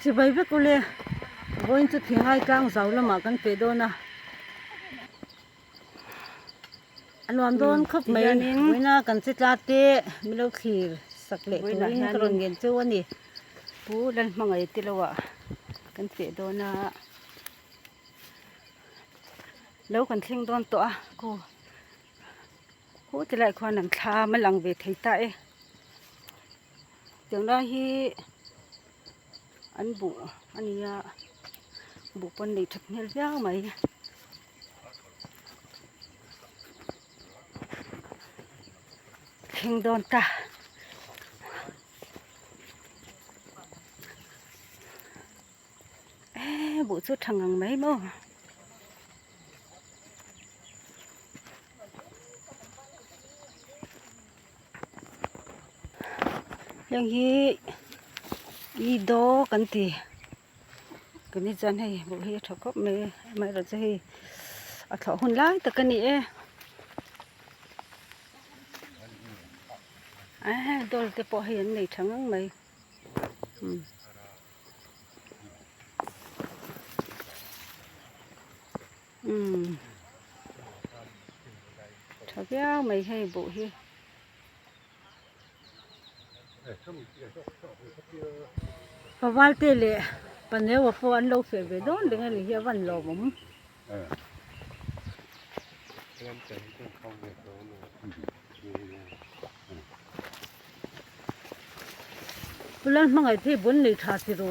Chibai vek ule, vawiin chu thingai tlang zau lamah kan pe dawn a. A nuam dawn khawp mai. Vawiina kan che tlat teh, milo thlir sak leh turin ka rawn ngen cheu a ni. Pu Lalhmangaih te lohah kan pe dawn a. Lo kan thleng dawn tawh a, Ku. Khute laiah khuan an thla a, a lang ve thei ta e. Tunlai hi an buh a ni a, buh pawn nei thutmel viau mai. Thleng dawn ta. Ehh buh chu tha ngang mai maw. heng hi eido kan ti kan ni chuan hei hmuh hi a tha khawp mai amaherawhchu chu hei a thlawh hun lai tak a ni e eee doll te pawh hei an nei tha ngang mai umm Umm tha viau mai hei buh hi. Ka valte leh ka neua pawh an lo feh ve dawn reng a ni hi a van lawm awm. Pulan hmangaih phei bun nei tha tiro.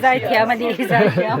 Zaithiam a ni Zaithiam.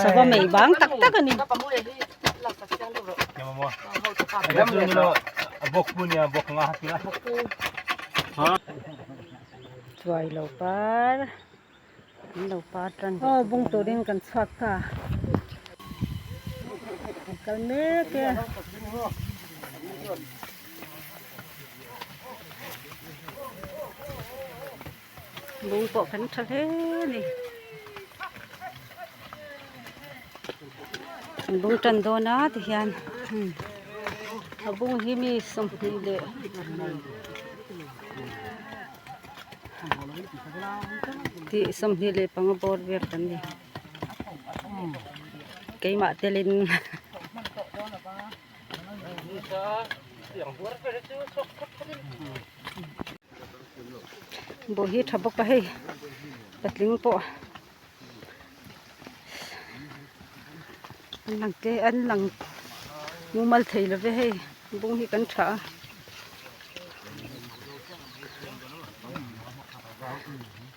Sava mei bang tak tak a ni. Chuai lo par, an lo par tan bawk. Aw bung tur in kan chhuak ta. A kal mek e. Lung pawh kan tha hle ni. Lung tan dawn a ti hian. A bung hi mi sawmhnih leh tih sawmhnih leh panga bawr ber kan ni. Keimah telin bawih hi a tha bawk a hei patling pawh an lang tel an lang mumal thei lo ve hei bung hi kan tha a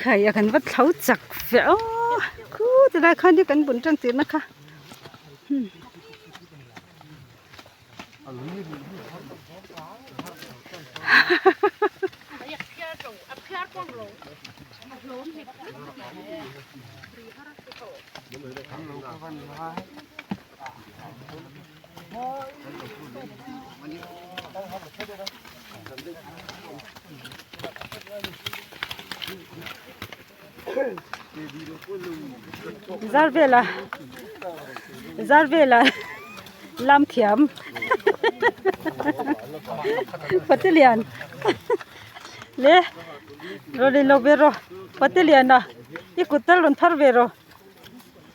khai a kan va thlo chak fe a khu ti lai khan hi kan bun tang tih na kha hahahaha zar vela zar vela lam thiam pati lian le rawn inlo ve rawh pati lian a i kut tal rawn phar ve rawh.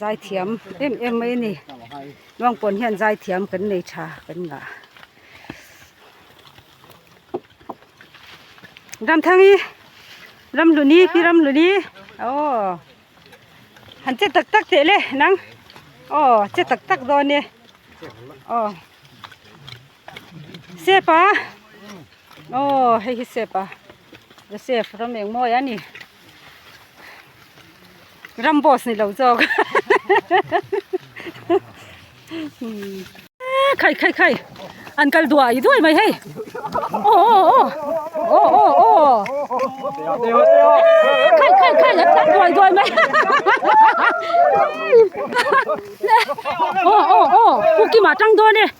zai thiam em em mai a ni luang pawn hian zai thiam kan nei tha kan ngah ramthangi ramhluni pi ramhluni oh han che tak tak teh le nang oh che tak tak dawn e oh Safe a aw hei hi safe a the safe ram eng mawi a ni ram boss ni lo zawk khai khai khai an kal duah i duai mai hei aw aw aw aw aw khai khai khai an kal duai duai mai aw aw aw pu kim ah tang dawn e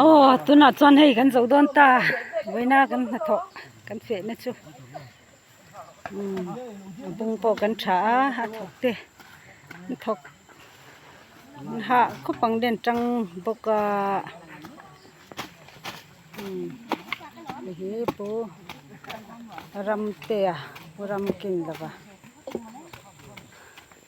aw tunah chuan hei kan zoh dawn ta vawiina kan hnathawh kan fehna chu. a bung pawh kan tha a a thawk te an thawk an hah khawp ang den tang bawk a umm hei hi pu ramte a pu ramkin lova.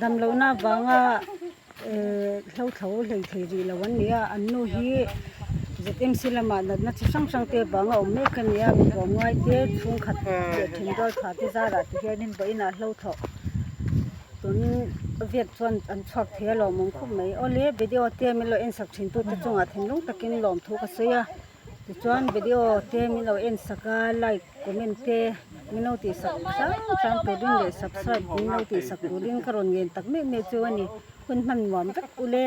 Dam lohna vanga hlothlo hlei thei rih lo an ni a, an nu hi ZMC lamah natna chi hrang hrang te vang a awm mek a ni a, mipa muai te, chhungkhat leh thingdual pha te zara ti hianin vawi inah hlothloh tun viet chuan an chhuak thei a lawmawm khawp mai. Awle video te min lo en sak thin tute chungah thinlung takin lawmthu ka sawi a. Tichuan video te min lo en sak a, like, comment te min lo tih sak hrang hrang tur ding leh subscribe min lo tih sak tur ding ka rawn ngen tak mek mek chu a ni. Hun hman nuam vek u le.